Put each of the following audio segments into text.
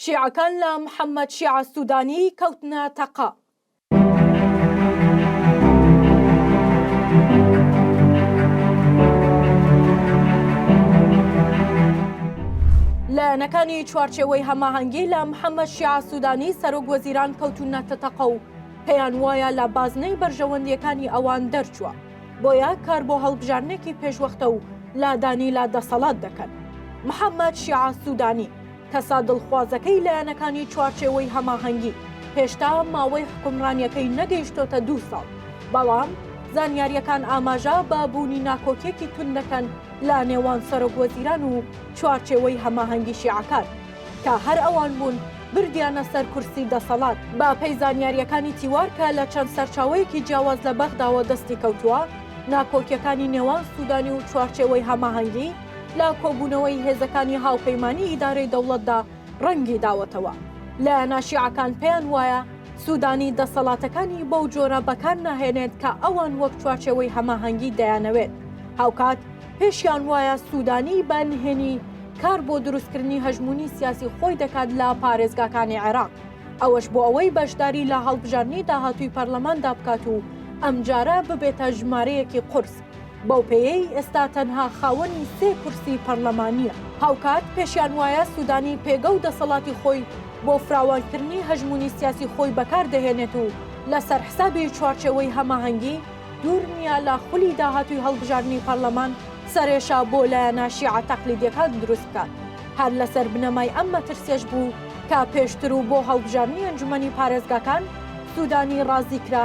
شیعەکان لە محەمەد شیعە سودانی کەوتنە تەقە. لایەنەکانی چوارچێوەی هەماهەنگی لە محەمەد شیعە سودانی سەرۆک وەزیران کەوتونەتە تەقە و پێیان وایە لە بازنەی بەرژەوەندیەکانی ئەوان دەرچووە بۆیە کار بۆ هەڵبژاردنێکی پێشوەختە و لادانی لە دەسەڵات دەکەن محەمەد شیعە سودانی کەسە دڵخوازەکەی لایەنەکانی چوارچێوەی هەماهەنگی، هێشتا ماوەی حکومڕانیەکەی نەگەیشتۆتە دوو ساڵ، بەڵام زانیاریەکان ئاماژە بە بوونی ناکۆکیەکی توند دەکەن لە نێوان سەرۆک وەزیران و چوارچێوەی هەماهەنگی شیعەکان، کە هەر ئەوان بوون بردیانە سەر کورسی دەسەڵات. بە پێی زانیاریەکانی تیوار کە لە چەند سەرچاوەیەکی جیاواز لە بەغداوە دەستی کەوتووە، ناکۆکیەکانی نێوان سودانی و چوارچێوەی هەماهەنگی، لە کۆبوونەوەی هێزەکانی هاوپەیمانی ئیدارەی دەوڵەتدا ڕەنگی داوەتەوە لایەنە شیعەکان پێیان وایە سوودانی دەسەڵاتەکانی بەو جۆرە بەکار ناهێنێت کە ئەوان وەک چوارچێوەی هەماهەنگی دەیانەوێت هاوکات پێشیان وایە سوودانی بە نهێنی کار بۆ دروستکردنی هەژموونی سیاسی خۆی دەکات لە پارێزگاکانی عێراق ئەوەش بۆ ئەوەی بەشداری لە هەڵبژاردنی داهاتووی پەرلەماندا بکات و ئەمجارە ببێتە ژمارەیەکی قورس بەو پێیەی ئێستا تەنها خاوەنی سێ کورسی پەرلەمانییە، هاوکات پێشیان وایە سودانی پێگە و دەسەڵاتی خۆی بۆ فراوانکردنی هەژموونی سیاسی خۆی بەکار دەهێنێت و لەسەر حسابی چوارچێوەی هەماهەنگی، دوور نییە لە خولی داهاتووی هەڵبژاردنی پەرلەمان سەرێشە بۆ لایەنە شیعە تەقلیدییەکان دروست بکات. هەر لەسەر بنەمای ئەم مەترسیەش بوو کە پێشتر و بۆ هەڵبژاردنی ئەنجومەنی پارێزگاکان سودانی ڕازی کرا،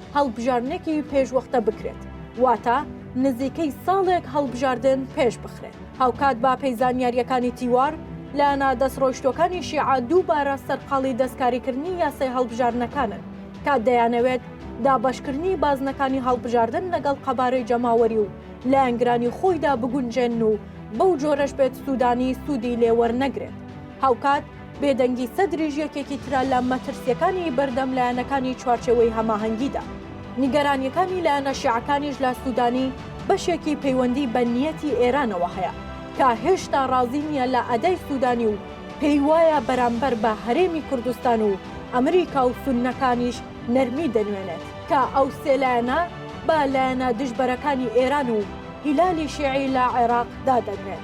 هەڵبژاردنێکی پێشوەختە بکرێت واتە نزیکەی ساڵێک هەڵبژاردن پێش بخرێت هاوکات با پێی زانیاریەکانی تیوار لایەنە دەست ڕۆیشتوەکانی شیعە دووبارە سەرقاڵی دەستکاریکردنی یاسای هەڵبژاردنەکانن تا دەیانەوێت دابەشکردنی بازنەکانی هەڵبژاردن لەگەڵ قەبارەی جەماوەری و لایەنگرانی خۆیدا بگونجێن و بەو جۆرەش بێت سوودانی سوودی لێوەرنەگرێت هاوکات بێدەنگی سەدریش یەکێکی ترە لە مەترسییەکانی بەردەم لایەنەکانی چوارچێوەی هەماهەنگیدا. نیگەرانییەکانی لایەنە شیعەکانیش لە سوودانی بەشێکی پەیوەندی بە نیەتی ئێرانەوە هەیە کە هێشتا ڕازی نییە لە ئەدای سوودانی و پێیوایە بەرامبەر بە هەرێمی کوردستان و ئەمریکا و سوننەکانیش نەرمی دەنوێنێت کە ئەو سێ لایەنە بە لایەنە دژبەرەکانی ئێران و هیلالی شیعی لە عێراق دادەنرێن.